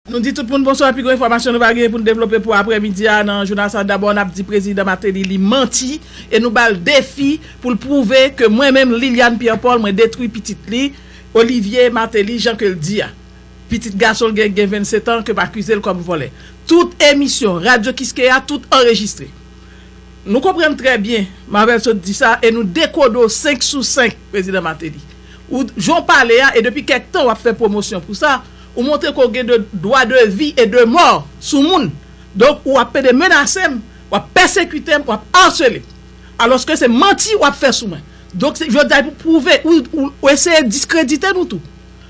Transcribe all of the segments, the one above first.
Nou di tout moun bonswa pi gwo enfòmasyon nou va genyen pou nou devlope pou aprè midi a nan jounal sa dabò nap di prezidan Martelly li manti e nou bal defi pou l pwouve ke mwen menm Liliane Pierre Paul mwen detwi pitit li Olivier Martelly jan ke l di a pitit gason l gen ki gen 27 ans ke m akize l kòm vòlè tout emisyon radyo kiskeya tout anrejistre nou konprann trè byen Marvel sot di sa e nou dekodo 5 sou 5 prezidan Martelly ou jan w pale a e depi kèk tan wap fè pwomosyon pou sa. Ou montre ke w gen de dwa de vi e de mò sou moun. Donk ou ap pede menase m, w ap pèsekite m, w ap arsele m. Alòske se manti w ap fè sou mwen. Donk se jodi a pou w pwouve, ou eseye diskredite nou tou.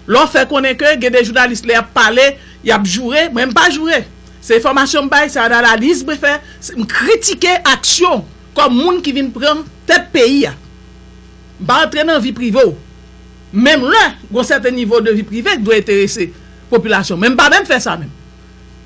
Lè w fè konnen ke gen de jounalis lè y ap pale, y ap joure, mwen m pa joure. Se enfòmasyon m bay, se ananaliz mwen fè, m kritike aksyon w kòm moun ki vin pran tèt peyi a. M pa antre nan vi prive w. Menm lè gon sèten nivo de vi prive ki dwe enterese popilasyon men m pa menm fè sa menm.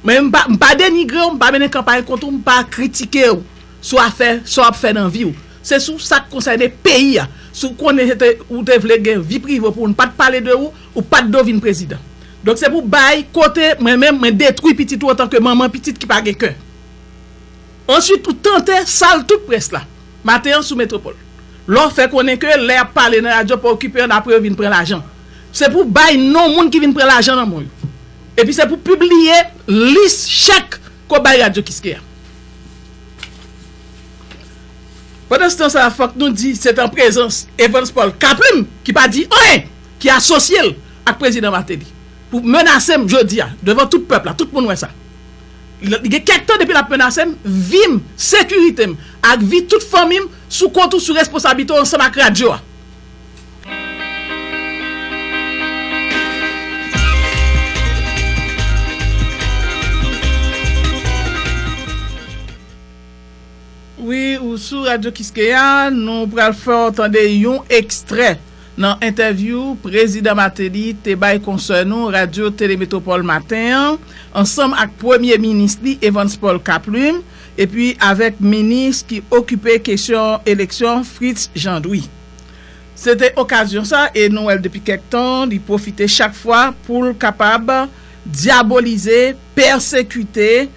Men m pa m pa denigre w, m pa mennen kanpay kont ou, m pa kritike w sou afè sa w ap fè nan vi w. Se sou sa k konsène peyi a. Si w konnen se te ou te vle gen vi prive pou w n pa t pale de ou, ou pa t do vin prezidan. Donk se pou bay kote mwen menm mwen detwi pitit ou antanke manman pitit ki pa gen kè. Answit ou tante sal tout près la maten an sou Metropole la w fè konnen ke lè yap pale nan radyo pa okipe an apre yo vin pran lajan se pou w bay non moun ki vin pran lajan nan men w yo epi se pou w pibliye lis chèk ke w bay radyo kiskeya. Pandanstan sa fòk nou di se te an prezans Evans Paul Kaplim ki pa di anyen ki asosye l ak Prezidan Martelly pou menase m jodi a devan tout pèp la tout moun wè sa. Li gen kèk tan depi l ap menase m, vi m, sekirite m ak vi tout fanmi m sou kont ou, sou responsablite w ansanm ak radyo a. Wi, ou sou Radyo Kiskeya, nou pral fè w tande yon ekstrè Nan entèvyou Prezidan Mateli te bay konsè nou Radyo Tele Metropole maten an, ansanm ak Premye Minis li Evans Paul Kaplume epi avèk Minis ki okipe kesyon eleksyon Fritz Jean Louis. Se te okazyon sa e nou wè l depi kèk tan li pwofite chak fwa pou l kapab dyabolize, pèsekite,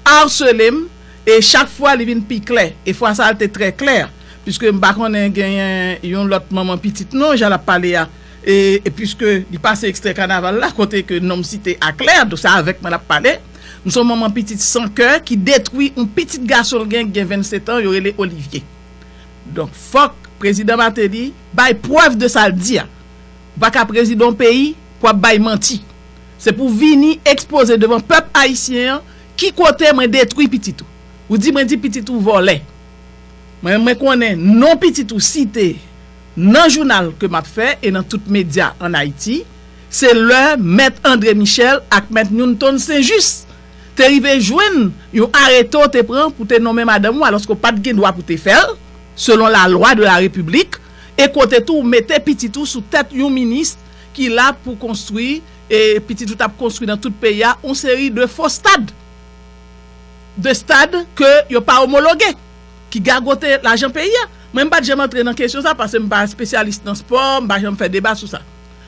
arsele m e chak fwa li vin pi klè e fwa sa l te trè klè. Puiske m pa konnen genyen yon lòt manman pitit non jan l ap pale a e puiske li pase ekstrè kanaval la kote ke non m site a klè donk se avèk mwen l ap pale m se yon manman pitit san kè ki detwi yon pitit gason l gen ki gen 27 an yo rele Olivier donk fòk prezidan Martelly bay prèv de sa l di a ou pa ka prezidan yon peyi pou w ap bay manti se pou w vini ekspoze devan pèp ayisyen an ki kote mwen detwi pitit ou ou di mwen di pitit ou vòlè. Mwen konnen non pitit ou site nan jounal ke m ap fè e nan tout medya an Ayiti, se lè Mèt André Michel ak Mèt Newton St-Just te rive jwenn yon arete w te pran pou te nonmen madanm ou alòske w pa t gen dwa pou te fè l selon la lwa de la repiblik e kote tou w mete pitit ou sou tèt yon minis ki la pou konstwi e pitit ou t ap konstwi nan tout peyi a yon seri de fo stad. 2 stad ke yo pa omologe ki gagote lajan peyi a. Mwen m pat janm antre nan kesyon sa pase m pa espesyalis nan spò, m pa janm fè deba sou sa.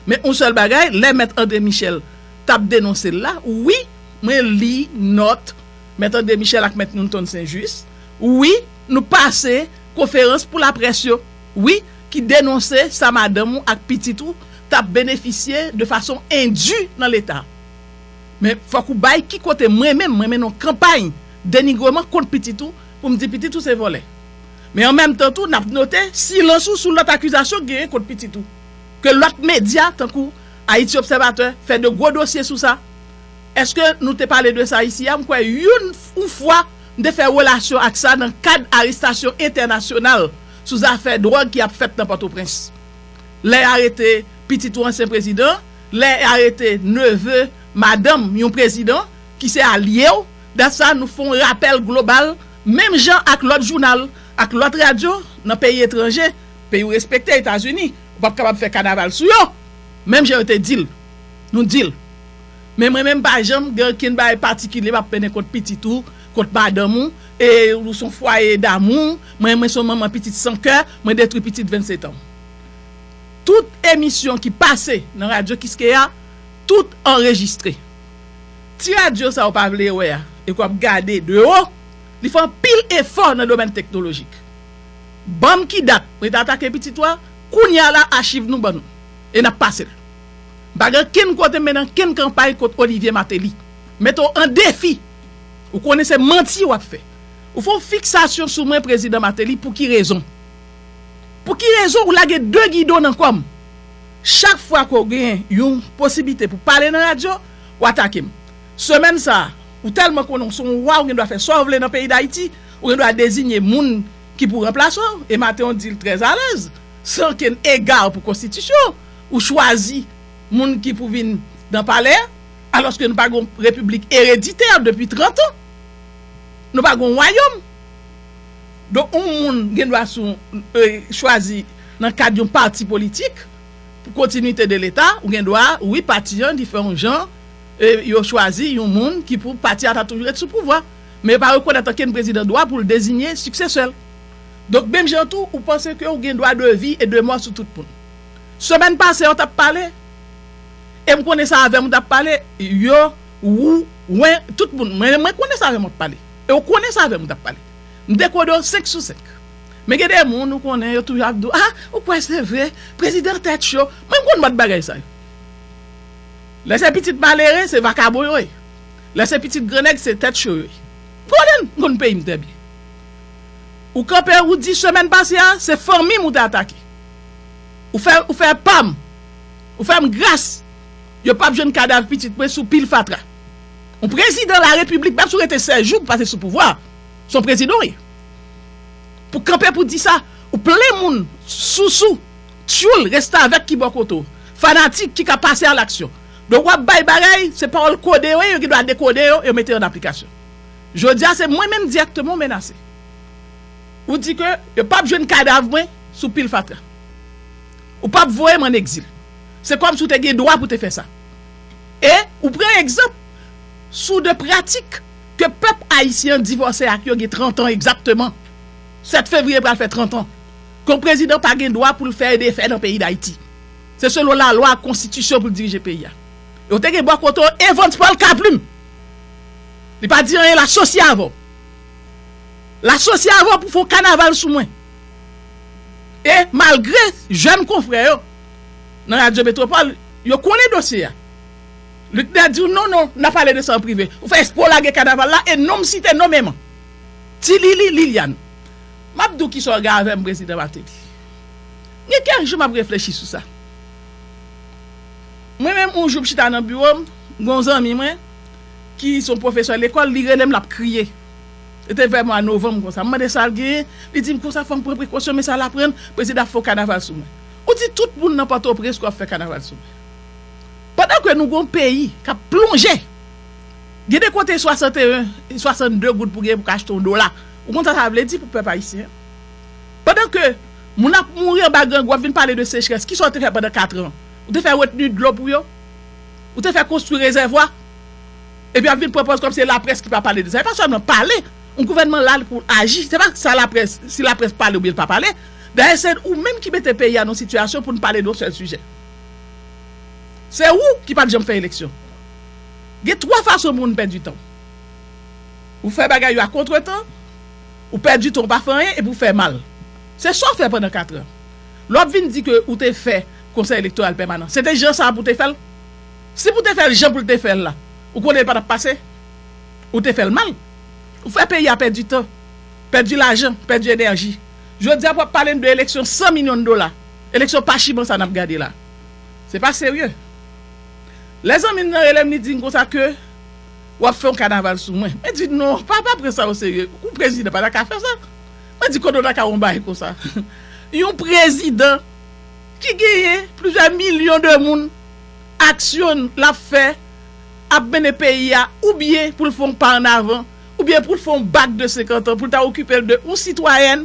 Men yon sèl bagay, lè mèt André Michel t ap denonse l la, wi mwen li nòt mèt André Michel ak mèt Newton Saint Juste, wi nou pase konferans pou laprès yo, wi ki denonse sa madanm ou ak pitit ou t ap benefisye de fason endu nan leta. Men fòk ou bay ki kote mwen menm mwen mennen yon kanpay denigreman kont pitit ou pou m di pitit ou se vòlè. Men an menm tan tou n ap note silans ou sou lòt akizasyon ki genyen kont pitit ou ke lòt medya tankou Ayiti Obsèvatè fè de gwo dosye sou sa. Eske nou te pale de sa isi a? M kwè youn ou fwa m te fè relasyon ak sa nan kad arestasyon entènasyonal sou zafè dwòg ki ap fèt nan Pòtoprens lè y arete pitit ou ansyen prezidan lè y arete neve, madanm, yon prezidan ki se alye w, dat sa nou fè yon rapèl global menm jan ak lòt jounal, ak lòt radyo nan peyi etranje, peyi w respekte, Etazini, ou p ap kapab fè kanaval sou yo, menm jan yo te di l, nou di l. Men mwen menm m pa janm gen okenn bagay patikilye m ap mennen kont pitit ou, kont madanm ou, e ou s on fwaye damou, mwen mwen s on manman pitit san kè, mwen detwi pitit 27 an. Tout emisyon ki pase nan Radyo Kiskeya, tout anrejistre. Ti radyo sa ou pa vle wè a e ke w ap gade de wo, li fè anpil efò nan domèn teknolojik. Ban m ki dat mwen te atake pitit ou a, kounye a la achiv nou ban nou e n ap pase l. M pa gen ankenn kote m men nan ankenn kanpay kont Olivye Mateli. M mete w an defi, ou konnen se manti w ap fè. Ou fè yon fiksasyon sou mwen Prezidan Mateli, pou ki rezon? Pou ki rezon ou lage 2 gidon nan kòm? Chak fwa ke w gen yon posiblite pou pale nan radyo, w atake m. Semèn sa a, ou tèlman konnen w se yon wa, ou gen dwa fè sa w vle nan peyi Dayiti, ou gen dwa dezinye moun ki pou ranplase w, e maten w di l trè alèz, san okenn ega pou konstitisyon an, ou chwazi moun ki pou vin nan palè a, alòske nou pa gen yon repiblik ereditè depi 30 an. Nou pa gen yon wayòm. Donk yon moun gen dwa sou chwazi nan kad yon pati politik pou kontinite de leta ou gen dwa wi pati an li fè yon jan yo chwazi yon moun ki pou pati a ta toujou ret sou pouvwa men yo pa rekonèt ankenn prezidan dwa pou l dezinye siksesè l donk menm jan tou ou panse ke ou gen dwa de vi e de mò sou tout moun semèn pase yo tap pale e m konnen sa avè m ou tap pale yo wou wen tout moun mwen konnen sa avè m wap pale. E ou konnen sa avèm ou tap pale. M dekode w 5 sou 5. Men gen de moun ou konnen yo toujou ap di w ah ou kwè se vre prezidan tèt cho. Mwen m konn mòd bagay sa yo. Lè se pitit malere se vakabon yo ye. Lè se pitit gran nèg se tèt cho yo ye. M konnen l, m konn peyi m trè byen. Ou kanpe ou di semèn pase a se fanmi m ou te atake. Ou fè ou fè pam. Ou fè m gras. Yo pap jwenn kadav pitit mwen sou pil fatra. Yon prezidan la repiblik pa toujou rete 16 jou pou pase sou pouvwa a. Son prezidan w ye. Pou kanpe pou di sa, ou plen moun, sousou, tyoul, restavèk ki bò kote w, fanatik ki ka pase a laksyon. Donk w ap bay bagay, se pawòl kode yo ye, yo gen dwa dekode yo, yo mete yo an aplikasyon. Jodi a se mwen menm dirèkteman w menase. Ou di ke yo pap jwenn kadav mwen sou pil fatra. Ou pap voye m an egzil. Se kòmsi w te gen dwa pou te fè sa. E ou pran egzanp sou de pratik ke pèp ayisyen an divòse ak yo gen 30 an egzakteman, 7 fevriye pral fè 30 an, ke yon prezidan pa gen dwa pou l fè e defè nan peyi Dayiti. Se selon lalwa ak konstitisyon pou l dirije peyi a. E ou te gen bò kote w Evans Paul Caplin. Li pa di anyen l asosye avè w. L asosye avè w pou w fè yon kanaval sou mwen. E malgre jèn konfrè yo. nan radyo Metropole, yo konnen dosye a. Luckner di w non non, n a pale de sa an prive. Ou fè espre w lage kanaval la e non m site nomeman. Ti Lili Liliane, M ap di w ki sa w gen avè m Prezidan Martelly. Gen kèk jou m ap reflechi sou sa. Mwen menm yon jou m chita nan biwo m, gen yon zanmi mwen ki se yon pwofesè lekòl, li rele m l ap kriye. Se te vè mwa novanm konsa. M mande sa l genyen, li di m konsa fò m pran prekosyon men sa l aprann, prezidan ap fè yon kanaval sou mwen. Ou di tout moun nan Pòtoprens kap fè kanaval sou mwen. Pandan ke nou gon peyi kap plonje. Gen de kote 61, 62 goud pou genyen pou ka achte yon dola. Ou konn sa sa vle di pou pèp ayisyen. Pandan ke moun ap mouri anba grangou wap vin pale de sechrès. Kisa ou te fè pandan 4 an? Ou te fè retni dlo pou yo? Ou te fè konstwi rezèvwa? Epi wap vin pran pòz kòm se laprès ki pa pale de sa. E pa sèlman pale. Yon gouvènman la li pou aji. Se pa sa laprès, si laprès pale oubyen li pa pale. Dayè se ou menm ki mete peyi a nan sitiyasyon pou n pale de yon sèl sijè. Se ou ki pa t janm fè eleksyon. Gen twa fason moun pèdi tan, Ou fè bagay yo a kontretan, ou pèdi tan ou pa fè anyen epi ou fè mal. Se sa w fè pandan katran. Lè w ap vin di ke ou te fè Konsèy Elektoral Pèmanan, se te jan sa a pou w te fè l? Si pou w te fè l jan pou l te fè l la, ou konnen l pa t ap pase? Ou te fè l mal. Ou fè peyi a pèdi tan, pèdi lajan, pèdi enèji. Jodi a pou ap pale n de eleksyon 100 milyon dola, eleksyon pachiman sa nap gade la. Se pa serye. Lè zanmi m nan rele m li di m konsa ke wap fè yon kanaval sou mwen. Mwen di non, pa pa pran sa o serye. Yon prezidan pa ta ka fè sa. Mwen di kote w ta ka wè yon bagay konsa. Yon prezidan ki genyen plizyè milyon de moun, aksyon lap fè ap mennen peyi a oubyen pou l fè yon pa an avan. Oubyen pou l fè yon bak de 50 an pou l ta okipe l de yon sitwayèn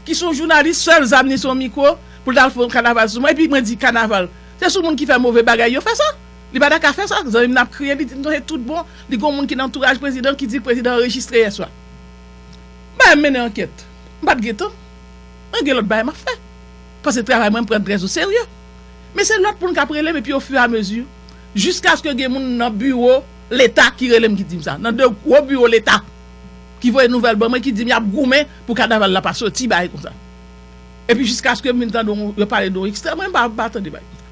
ki se yon jounalis sèl zam li se yon mikwo pou l ta al fè yon kanaval sou mwen epi mwen di kanaval se sou moun ki fè move bagay yo fè sa li pa ta ka fè sa zanmi m nan ap kriye li di m non se tout bon li gen yon moun ki nan antouraj prezidan an ki di l prezidan an rejistre yèswa m pa menm mennen ankèt m pa t gen tan mwen gen lòt bagay m ap fè paske travay mwen m pran l trè oserye men se lòt moun k ap rele m epi ofiramezi jiskaske gen moun nan biwo Leta ki rele m ki di m sa. Nan 2 gwo biwo leta ki voye nouvèl ban mwen ki di m y ap goumen pou kanaval la pa soti bagay konsa. Epi jiskaske m vin tande yon yo pale de yon ekstrè mwen m pa tande bagay konsa.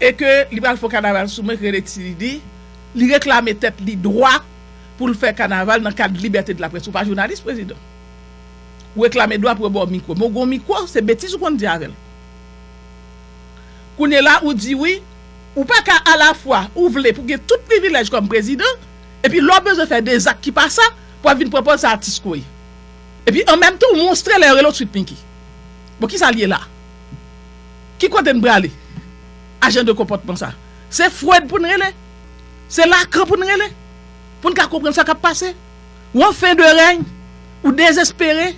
E ke li pral fè yon kanaval sou mwen ki rele Ti Didi, li reklame tèt li dwa pou l fè kanaval nan kad libète de la près. Ou pa jounalis prezidan. Ou reklame dwa pou yo ba w mikwo. Men ou gen yon mikwo se betiz ou konn di avè l. Kounyela ou di wi. Ou pa ka alafwa ou vle pou gen tout privilèj kòm prezidan, epi lè w bezwen fè de zak ki pa sa, pou ap vin pran pòz sa atis ko ye. Epi an menm tan ou monstre lè yo rele w Sweet Micky. Bon kisa l ye la? Ki kote n prale a jan de konpòtman sa? Se Freud pou n rele? Se Lacan pou n rele? Pou n ka konprann sa k ap pase? Ou an fen de rèy, ou dezespere,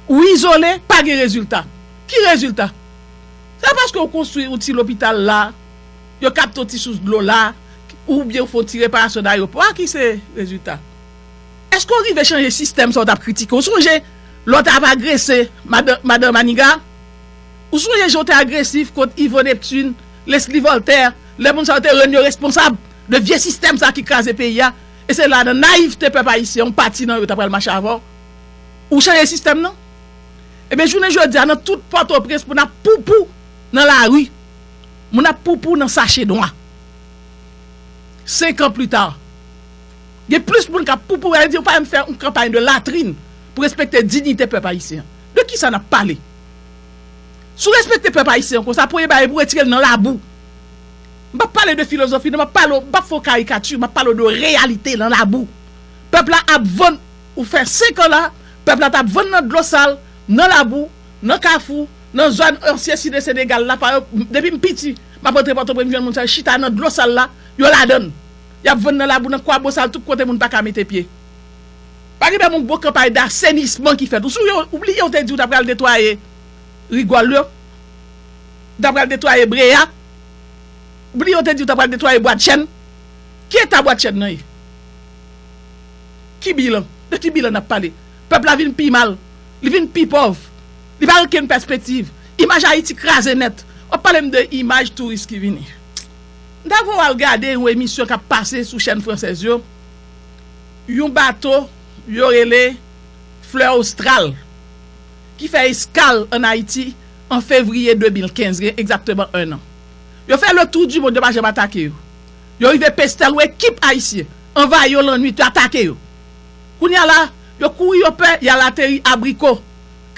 ou izole, pa gen rezilta. Ki rezilta? Se paske ou konstwi yon ti lopital la, yo kapte yon ti sous dlo la, oubyen ou fè yon ti reparasyon nan ayewopò a ki se rezilta? Eske ou rive chanje sistèm sa ou t ap kritike? Ou sonje lè w t ap agrese Madan Maniga? Ou sonje jan ou te agresif kont Yvo Neptune, Lesly Voltaire, lè moun sa yo te rann yo responsab de vye sistèm sa ki kraze peyi a? E se la nan nayivte pèp ayisyen yon pati nan yo ta pral mache avè w? Ou chanje sistèm nan? Ebyen jounen jodi a nan tout pòtoprens moun ap poupou nan lari, moun ap poupou nan sache nwa. 5 ans plus tard gen plis moun kap poupou al di yo pa menm fè yon kanpay de latrine pou respekte dignite pèp ayisyen an. De kisa nap pale? Si w respekte pèp ayisyen an konsa premye bagay pou retire l nan labou. M pap pale de filozofi non, m ap pale w, m pap fè yon karikati, m ap pale w de reyalite nan labou. Pèp la ap vann Ou fè 5 an la, pèp la tap vann nan dlo sal, nan labou, nan kafou, nan zòn ansyen site Senegal la, payo, depi m piti, map antre Pòtoprens m jwenn moun sa yo chita nan dlo sal la, yo ladann. Yap vann nan labou, nan kwabosal, tout kote moun paka mete pye. Pa gen menm yon gwo kanpay dasenisman ki fèt. Ou souye, ou bliye yo te di ou ta pral netwaye rigòl yo? Ou ta pral netwaye breya? Ou bliye yo te di ou ta pral netwaye bwadchenn? Ki eta bwadchenn nan ye? Ki bilan? De ki bilan n ap pale? Pèp la vin pi mal. Li vin pi pòv. Li pa gen okenn pèspektiv. Imaj Ayiti kraze nèt. W ap pale m de imaj touris ki vini. M ta vle w al gade yon emisyon k ap pase sou chèn fransèz yo, yon bato yo rele Fleur Austral ki fè eskal ann Ayiti an fevriye 2015, gen egzakteman enn an. Yo fè le tour du monde, yo pa janm atake yo. Yo rive Pestel ou ekip Ayisyen anvayi yo lannuit yo atake yo. Kounya la, yo kouri yo pè y al ateri Abriko,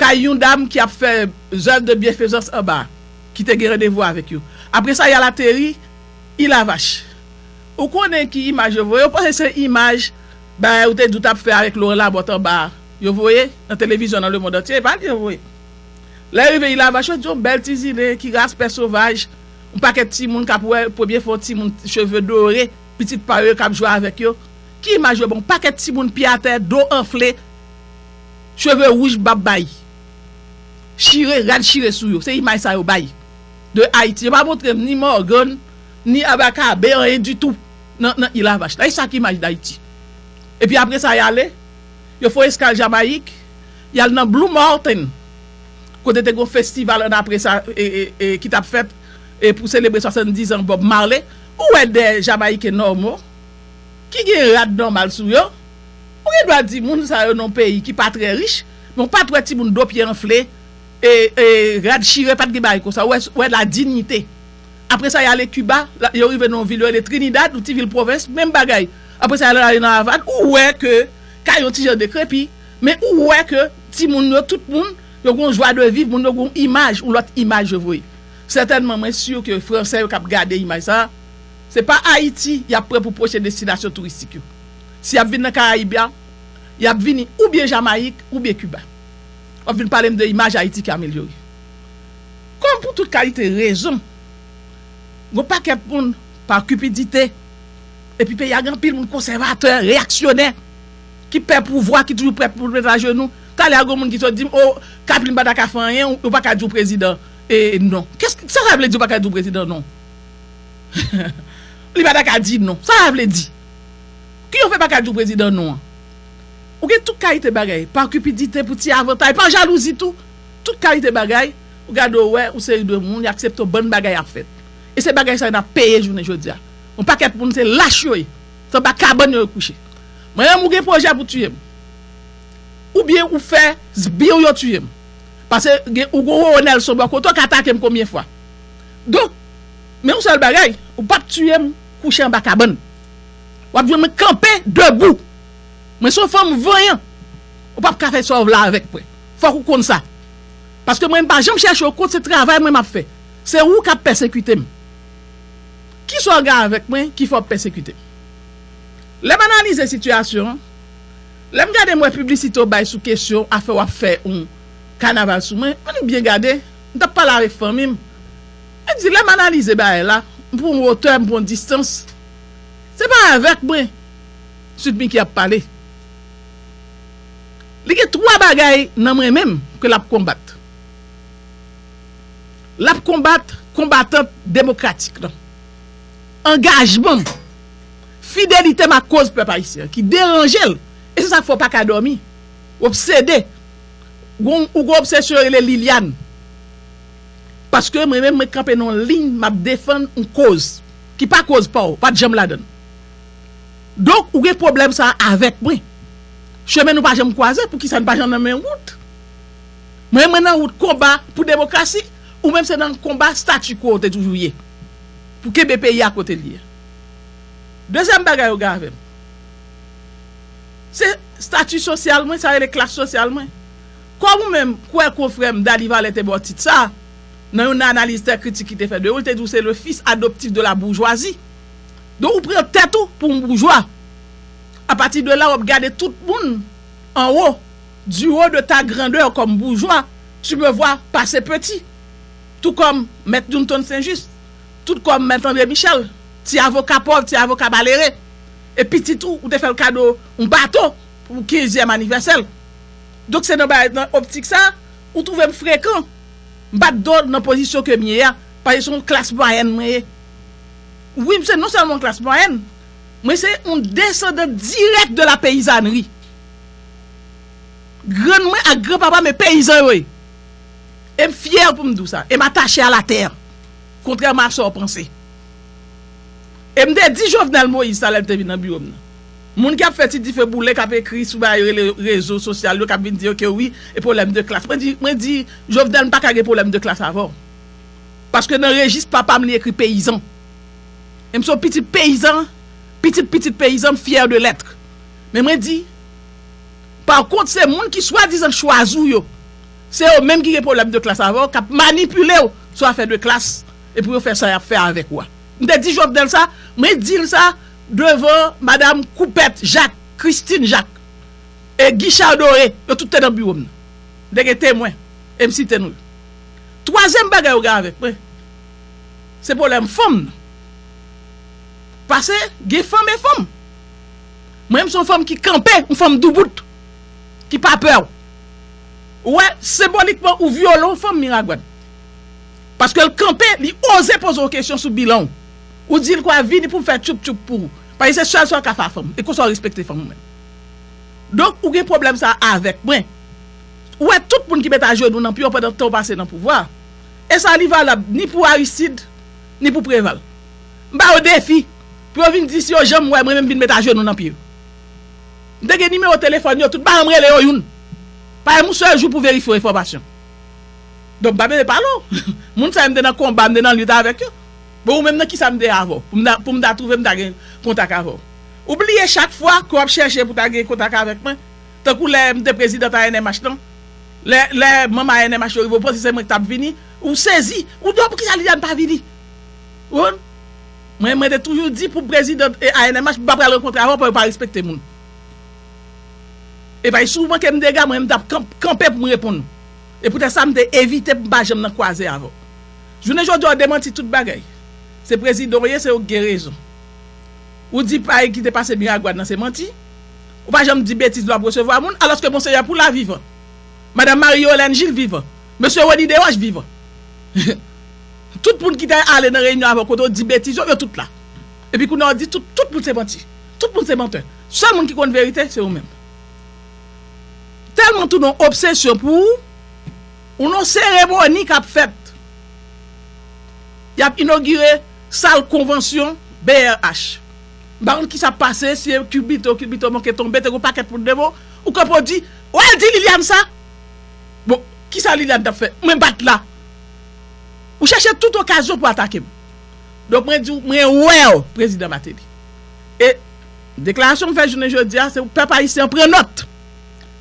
kay yon dam ki ap fè zèv de byenfezans anba a, ki te gen randevou avèk yo. Apre sa y al ateri Ilavach. Ou konnen ki imaj yo voye, yo panse se imaj bagay ou te di ou t ap fè avèk Loran Labòt anba a yo voye nan televizyon nan lemond antye, e pa li yo voye. Lè yo rive Ilavach yo di yo bèl ti zile ki raspè sovaj. Yon pakèt timoun kap wè premye fwa yon timoun cheve dore, pitit pa yo yo kap jwe avèk yo, ki imaj yo ban yon pakèt timoun pye atè, do anfle, cheve wouj, bab bay, chire, rad chire sou yo, se imaj sa yo bay de Ayiti, yo pa montre m ni Morgan, ni Abakabe, anyen ditou nan île à vache la, e sa ki imaj Dayiti? Epi apresa y ale, yo fon eskal Jamayik, y al nan Blue Mountain. kote te gen yon festival annapre sa ki t ap fèt pou selebre 70 zan Bob Marley, ou wè 2 Jamayiken nòmo, ki gen rad nòmal sou yo, ou gen dwa di moun sa yo nan yon peyi ki pa trè rich, men ou pa t wè timoun do pye anfle, rad chire, pa t gen bagay konsa, ou wè la dinyite. Apre sa y ale Kiba, yo rive nan yon vil yo rele Trinidad, yon ti vil pwovens, menm bagay. Apre sa y al ale nan Avàn, ou wè ke kay yo ti jan dekrepi. Men ou wè ke timoun yo, tout moun, yo gon jwa de viv, moun yo gon imaj, yon lòt imaj yo voye. Sètènman mwen sur ke Fransè yo kap gade imaj sa a, se pa Ayiti yap pran pou pwochen destinasyon touristik yo. Si yap vin nan Karayib la, yap vini oubyen Jamayik oubyen Kiba. Wap vin pale m de imaj Ayiti ki amelyore. Kòm pou tout kalite rezon, gon pakèt moun, pa kipidite, epi peyi a gen anpil moun konsèvatè, reyaksyonè. ki pè pouvwa, ki toujou prè pou l met ajenou. Talè a gen yon moun ki sot di m, o, Kathleen pa ta ka fè anyen, ou pa ka di w prezidan non. Sa sa vle di ou pa ka di w prezidan non? Li pa ta ka di non. Sa sa vle di? Ki yo fè pa ka di w prezidan non an? Ou gen tout kalite bagay, pa kipidite, pou ti avantay, pa jalouzi tou. Tout kalite bagay, ou gade ou wè, ou se yon de moun, y aksepte w, bann bagay ap fèt. E se bagay sa yo n ap peye jounen jodi a. Yon pakèt moun se lach yo ye. Se anba kabann yo yo kouche. Manyenm ou gen pwojè pou tiye m. Oubyen ou fè sbire w yo tiye m. Pase gen ou gon Roro Nelson bò kote w ka atake m konbyen fwa. Donk, men yon sèl bagay, ou p ap tiye m kouche anba kabann. W ap jwenn mwen kanpe debou. Mwen se yon fanm vanyan. Ou p ap ka fè sa w vle avèk mwen. Fòk ou konn sa. Paske mwen m pa janm chèche w kont se travay mwen m ap fè. Se ou k ap pèsekite m. Ki sa w gen avèk mwen ki fè w ap pèsekite m? Lè m analize sitiyasyon an, lè m gade m wè piblisite w bay sou kesyon afè w ap fè yon kanaval sou mwen, an nou byen gade, m t ap pale avèk fanmi m, mwen di lè m analize bagay la, m pran yon wotè, m pran yon distans, se pa avèk mwen Sweet Micky ap pale. Li gen twa bagay nan mwen menm ke l ap konbat. L ap konbat konbatant demokratik lan. Angajman m, fidelite m ak koz pèp ayisyen an ki deranje l, e se sa k fè w pa ka dòmi, w obsede, ou gen obsesyon yo rele Liliàn. Paske mwen menm mwen kanpe nan yon liy, m ap defann yon koz ki pa koz pa w, pa t janm ladan l. Donk, ou gen pwoblèm sa a avèk mwen. Chemen nou pa janm kwaze, poukisa n pa janm nan menm wout? Mwen mwen nan wout konba pou demokrasi, ou menm se nan konba statu quo ou te toujou ye. Pou kenbe peyi a kote li ye. Dezyèm bagay ou gen avè m. Se statu sosyal mwen, sa rele klas sosyal mwen. Kòm ou menm kwè konfrè m Dany Valet te ba w tit sa a, nan yon analiz tè kritik li te fè de ou, li te di w se le fils adoptif de la bourgeoisie. Donk ou pran tèt ou pou yon boujwa. A pati de la w ap gade tout moun anwo Du haut de ta grandeur comme bourgeois, tu me vois passer petit, tout comme Mèt Newton St-Just, tout comme Mèt André Michel, ti avoka pòv, ti avoka malere, e pitit ou, ou te fè l kado yon bato pou kenzyèm anivèsè l. Donk se nan bagay, nan optik sa a, ou twouve m frekan. M bat do nan pozisyon ke m ye a, paske se yon klas mwayèn mwen ye. Wi, m se non sèlman yon klas mwayèn, mwen se yon desandan dirèk de la peyizanri. Grann mwen ak gran papa m e peyizan yo ye. E m fyè pou m di w sa. E m atache a la tè. Kontrèman ak sa w panse. E m te di Jovenel Moïse sa lè l te vin nan biwo m nan. Moun ki ap fè ti dife boule, k ap ekri sou bagay yo rele rezo sosyal yo, k ap vin di yo ke wi, e pwoblèm de klas. Mwen di, mwen di, Jovenel m pa ka gen pwoblèm de klas avè w. Paske nan rejis papa m li ekri peyizan. E m se yon pitit peyizan, pitit pitit peyizan, m fyè de lèt. Men mwen di, par kont se moun ki swadizan chwazi w yo, se yo menm ki gen pwoblèm de klas avè w, k ap manipile w sou afè de klas e pou yo fè sa y ap fè avèk ou a. M te di Jovenel sa, mwen di l sa devan madam Koupèt Jak, Christine Jak e Guichard Doré, yo tout te nan biwo m nan. M te gen temwen e m site non yo. Twazyèm bagay yo gen avèk mwen, se pwoblèm fanm nan. Pase gen fanm e fanm. Mwen menm se yon fanm ki kanpe, yon fanm doubout, ki pa pè. Ou wè, senbolikman ou vyole yon fanm Miragwàn. Paske l kanpe, li oze poze w kesyon sou bilan w. Ou di l kwa vini pou m fè tchoup tchoup pou ou. Paske se sèl sa w ka fè a fanm. E konsa w respekte fanm ou menm. Donk ou gen pwoblèm sa a avèk mwen. Ou wè tout moun ki met ajenou nan pye w pandan tan w pase nan pouvwa a. E sa li valab ni pou Aristide, ni pou Preval. M ba yo defi pou yo vin di si yo janm wè mwen menm vin met ajenou nan pye yo. M te gen nimewo telefòn yo tout ba yo m rele yo youn pa youn yon sèl jou pou verifye yon enfòmasyon. Donk m pa bezwen pale w. Moun sa yo m te nan konba, m te nan lit avèk yo. Bon ou menm nan kisa m te avè w pou m ta pou m ta twouve m ta gen kontak avè w? Ou bliye chak fwa ke w ap chèche pou ta gen kontak avèk mwen tankou lè m te prezidant ANMH lan lè lè manm ANMH yo rive ou panse se mwen k t ap vini ou sezi ou di yo poukisa Liliane pa vini? Wood Mwen mwen te toujou di pou president ANMH m pa pral rankontre avè w paw yo pa respekte moun Epay si w manke m dega mwen m tap kanpe pou m reponn ou E poutèt sa m te evite pou m pa janm nan kwaze avè w Jounen jodi a w demanti tout bagay Se prezidan w ye se ou k gen rezon Ou di pa ki te pase Miragoâne nan se manti Ou pa janm di betiz lè w ap resevwa moun alòske Monseyè Poulard vivan Madam Marie Yolène Gilles vivan Mesye Rony Deroche vivan Tout moun ki te ale nan reyinyon avè w kote w di betiz yo, yo tout la. Epi kounye a w di tout, tout moun se manti. Tout moun se mantè. Sèl moun ki konn verite se ou menm. Tèlman w tounen yon obsesyon pou ou, ou nan yon seremoni k ap fèt. Y ap inogire sal konvansyon brh. M pa konn kisa ap pase, si e kilbito, kilbito manke tonbe, te gen yon pakèt moun devan w, ou kanpe w di, wè l di Liliane sa! Bon, kisa Liliane t ap fè? Mwen pa t la. Ou chache tout okazyon pou atake m. Donk mwen di w mwen wè w Prezidan Mateli. E deklarasyon m fè jounen jodi a se pou pèp ayisyen an pran nòt.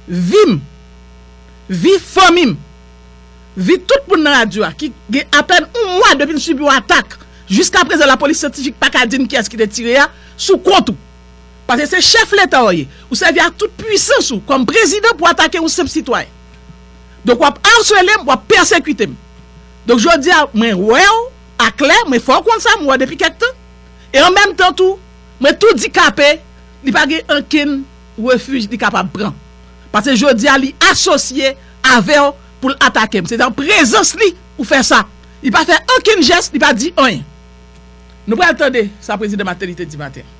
Vi m, vi fanmi m, vi tout moun nan radyo a ki gen apèn yon mwa depi n sibi yon atak, jiska prezan lapolis syantifik pa ka di n kiyès ki te tire a, sou kont ou. Paske se chèf Leta w ye. Ou sèvi ak tout pwisans ou kòm Prezidan pou atake yon senp sitwayen. Donk wap arselem, wap pèsekitem. Donk jodia mwen wèw aklè, mwen fè w konn sa mwen wè depi kèk tan. E an menm tan tou, mwen tou di KP li pa gen ankenn refij li kapab pran. Pase jodia li asosye avèw pou l atakem. Se nan prezans li ou fè sa. Li pa fè ankenn jès, li pa di anyen. Nou pral tande sa Prezidan Mateli te di maten an.